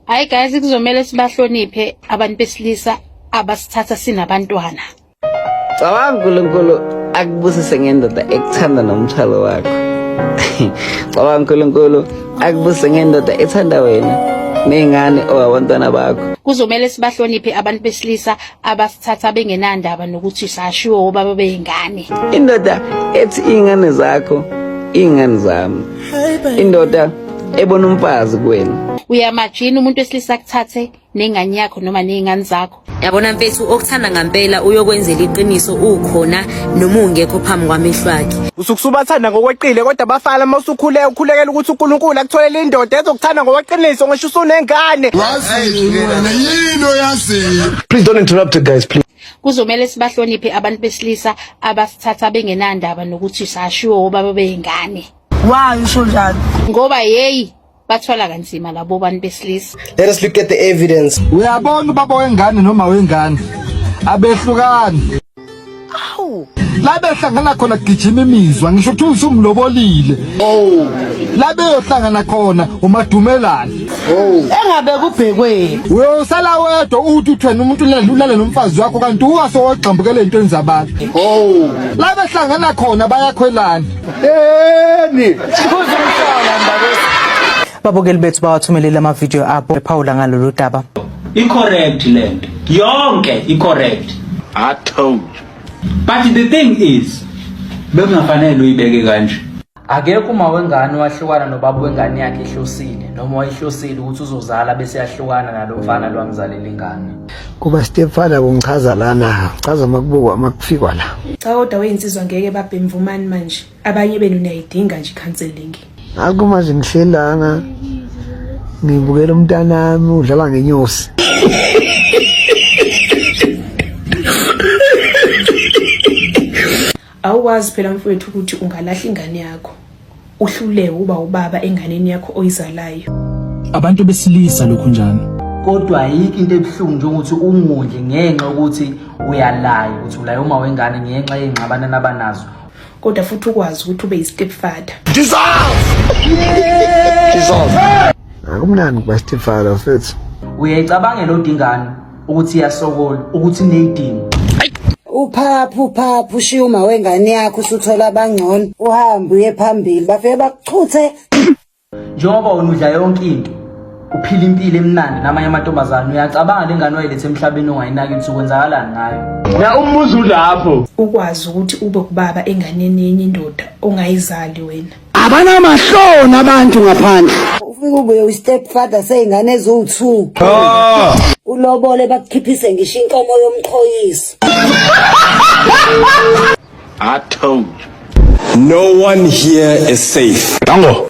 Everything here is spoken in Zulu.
Hayi guys kuzomela sibahloniphe abantu besilisa abasithatha sinabantwana. Cabanga uNkulunkulu akubusise ngendoda ekuthanda nomthwalo wakho. Cabanga uNkulunkulu akubusise ngendoda ethanda wena nezingane owabantwana bakho. Kuzomela sibahloniphe abantu besilisa abasithatha bengenandaba nokuthi sashiwo obaba beyingane indoda ethi ingane zakho ingane zami indoda ebona umfazi kuwena uyamajina umuntu wesilisa kuthathe nengane yakho noma nezingane zakho yabona mfethu okuthanda ngampela uyokwenzela iqiniso ukhona noma ungekho phambi kwamehlo akhe usuke usubathanda ngokweqile kodwa bafana uma usukhule ukhulekela ukuthi uNkulunkulu akutholele indoda ezokuthanda ngokweqiniso ngisho usunengane please don't interrupt guys please kuzomele sibahloniphe abantu besilisa abasithatha bengenandaba nokuthi sashiwo obaba beyingane wayo usho njalo ngoba yeyi bathwala kanzima labo bantu besilisa let us look at the evidence uyabona ubaba wengane noma wengane abehlukani awu la behlangana khona kugijima imizwa ngisho ukuthi usumlobolile oh la beyohlangana khona umadumelani oh engabe kubhekweni uyosala wedwa uthi uthwena umuntu ulale nomfazi wakho kanti uwase wogxambukele into enzabantu oh la behlangana khona bayakhwelana Yeni. Babukeli bethu bawathumelele amavidiyo abo ephawula ngalolu daba. I-correct le nto yonke i-correct I told you. but the thing is bekungafanele uyibeke kanje Akekho uma wengane wahlukana nobaba wengane yakhe ehlosile noma wayehlosile ukuthi uzozala bese yahlukana nalo mfana lwamzalele ingane. kuba stepfather kungichaza lana chaza makubukwa makufikwa la cha kodwa weyinsizwa ngeke babhe mvumani manje abanye benu niyayidinga nje counseling akuma zingihlelanga ngibukela umntanami udlala ngenyosi awukwazi phela mfowethu ukuthi ungalahla ingane yakho uhlulewe uba ubaba enganeni yakho oyizalayo abantu besilisa lokhu njani kodwa ayikho into ebuhlungu njengokuthi ungondle ngenxa ukuthi uyalayo ukuthi ulayo uma wengane ngenxa yengxabana nabanazo kodwa futhi ukwazi ukuthi ube yi-step father akumnandi kuba step father mfethu uyayicabangela odingane ukuthi iyasokola ukuthi ineyidingo uphaphu uphaphu ushiya uma wengane yakho usuthola abangcono uhambe uye phambili bafike bakuchuthe njengoba wena udla yonke into uphila impilo emnandi namanye amantombazane uyacabanga le ngane wayilethe emhlabeni ongayinaki ukuthi kwenzakalani ngayo ya umuzi ulapho ukwazi ukuthi ube kubaba enganeni yenye indoda ongayizali wena abanamahloni abantu ngaphandle ufike ubuye ustep father seyingane eziwu-two ah! ulobole bakukhiphise ngisho inkomo yomqhoyiso I told you. No one here is safe. Dango.